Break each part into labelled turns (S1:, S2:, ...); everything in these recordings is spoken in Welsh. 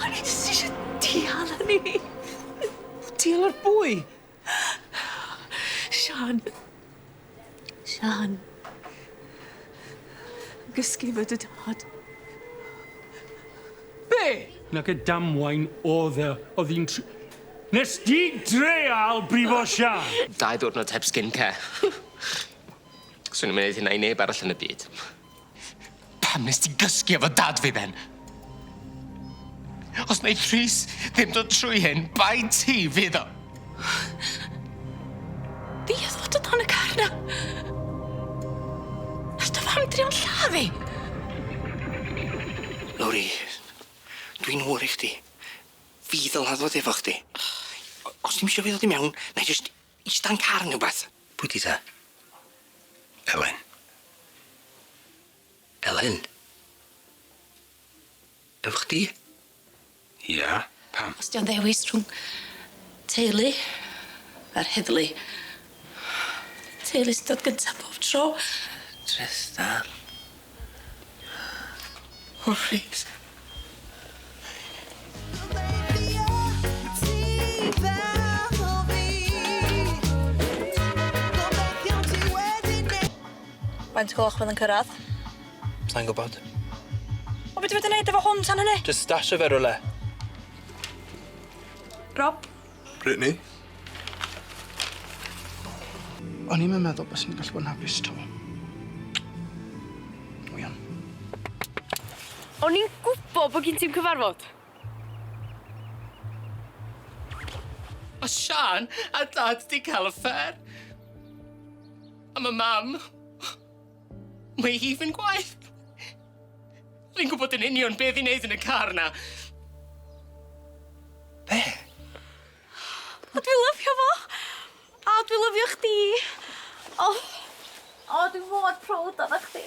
S1: O'n i jyst isie dial hynny. Dial yr bwy? Siân. Siân. Yn gysgu efo dy dad. Be'? Nac y damwain o'dd yy o'dd i'n tr- Nes di dreial brifo Siân? Dau ddiwrnod heb skin care. Swn i'm yn neud hynna i neb arall yn y byd. Pam nes ti gysgu efo dad fi then? Os neith Rhys ddim dod trwy hyn, bai ti fydd o. Fi oedd fod o dan y car na. Nath dy fam drio'n lladd fi. Lowri, dwi'n wr i chdi. Fi ddylad fod efo chdi. Os ti'm isio fi ddod i mewn, nai jyst Ista yn car ne wbath. Pwy 'di ta? Elen. Elen? Efo chdi? Ia, pam? Os 'di o'n ddewis rhwng teulu a'r heddlu. Teulu sy'n dod gynta pob tro. Trystan. O plîs. Faint o gloch fydd yn cyrradd? Sai'n gwbod. O be' dwi fod i neud efo hwn tan hynny? Jys stasho fe rywle. Rob? Brittany? O'n i'm yn meddwl byswn i'n gallu bod yn hapus 'to. Dwi yn. O'n i'n gwbo bo' gin ti'm cyfarfod. Ma' Siân a Dad 'di ca'l affêr. A ma' Mam... Mae hi'n fyn' gwaeth. Fi'n gwybod yn union be' fi'n neud yn y car 'na. Be'? O dwi lyfio fo. O dwi lyfio chdi. O. O dwi mor prowd ona chdi.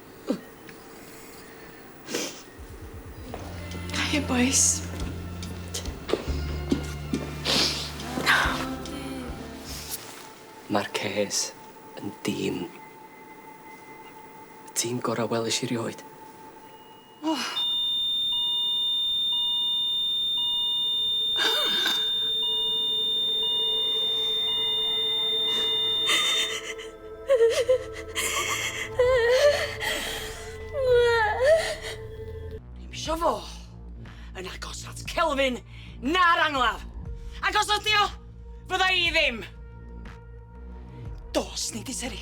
S1: Hiya bois. Ma'r cês yn dîm. Y tîm gora' welish i rioed. O! Dim isio fo yn agos at Kelvin na'r angladd. Ac os ydi o, fydda i ddim. Dos ni di Seri.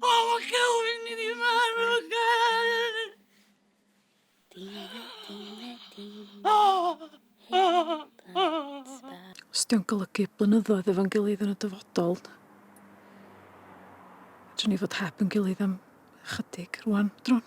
S1: O, mae Celwyn i ni marw, Celwyn! Os di'n golygu blynyddoedd efo'n gilydd yn y dyfodol, dwi'n ni fod heb yn gilydd am chydig rwan, drwn.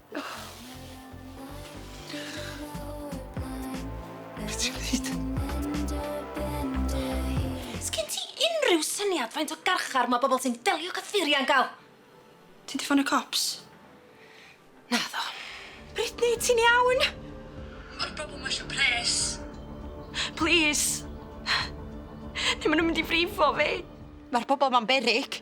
S1: Be' ti'n neud? Sgin ti unrhyw syniad faint o garchar ma' bobol sy'n delio cyffuria'n ga'l? Ti 'di ffonio cops? Naddo. Brittany, ti'n iawn? Ma'r bobol 'ma isio pres. Plîs. Ne' ma' nw mynd i frifo fi. Ma'r bobol 'ma'n beryg.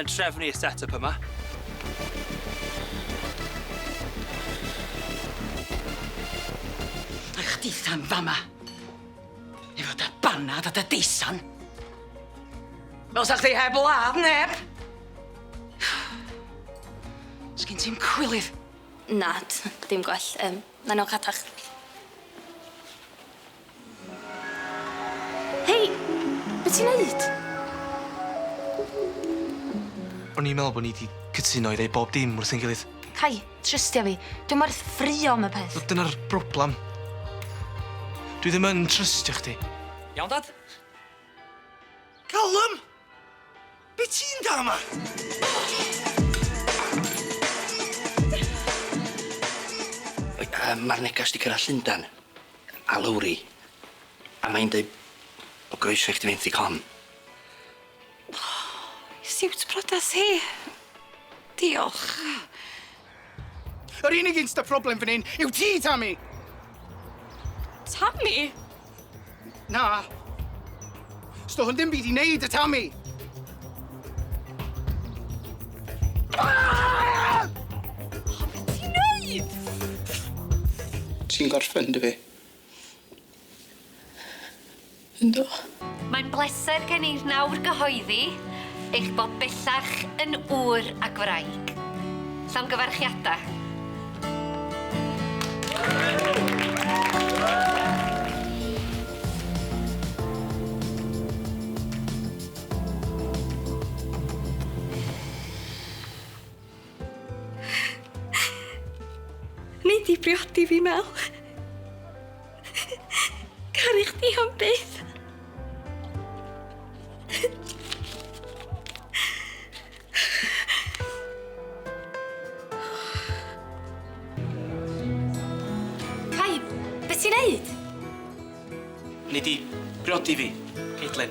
S1: yn trefnu y set-up yma. A chdi Sam fama. Efo dy banad a dy deisan. Fel sa chdi heb ladd neb! Sgyn ti'n cwilydd? Na, dim gwell. Um, Mae'n o catach. Hei! Be' ti'n neud? O'n i'n meddwl bo' ni 'di cytuno i ddeud bob dim wrth ein gilydd. Cai, trystia fi. Dwi'm werth ffrio am y peth. Wel dyna'r broblam. Dwi ddim yn trystio chdi. Iawn, Dad? Callum! Be ti'n da yma? Mae'r negas di cyrraedd Llundan a Lowri a mae'n dweud bod groeso i chdi fynd i con. Siwt priodas hi. Diolch. Yr unig un sydd â problem fan hyn yw ti, Tammy! Tammy? Na. Sdo hwn ddim byd i wneud y Tammy! Ah! O, beth ti'n neud? Ti'n gorffen, dy fi? Yndw. Mae'n bleser gen i nawr gyhoeddi eich bod bellach yn ŵr ag wraig. Llongyfarchiadau. Nei di briodi fi, Mel. Caru chdi am byth. Pai, beth ti'n neud? Nei di briodi fi, Caitlin.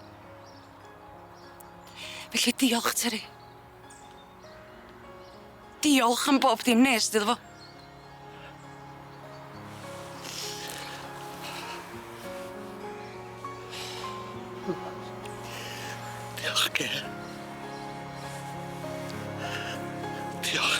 S1: Felly diolch, Teri. Diolch am bob dim nest iddo fo. Diolch, Kay. Diolch.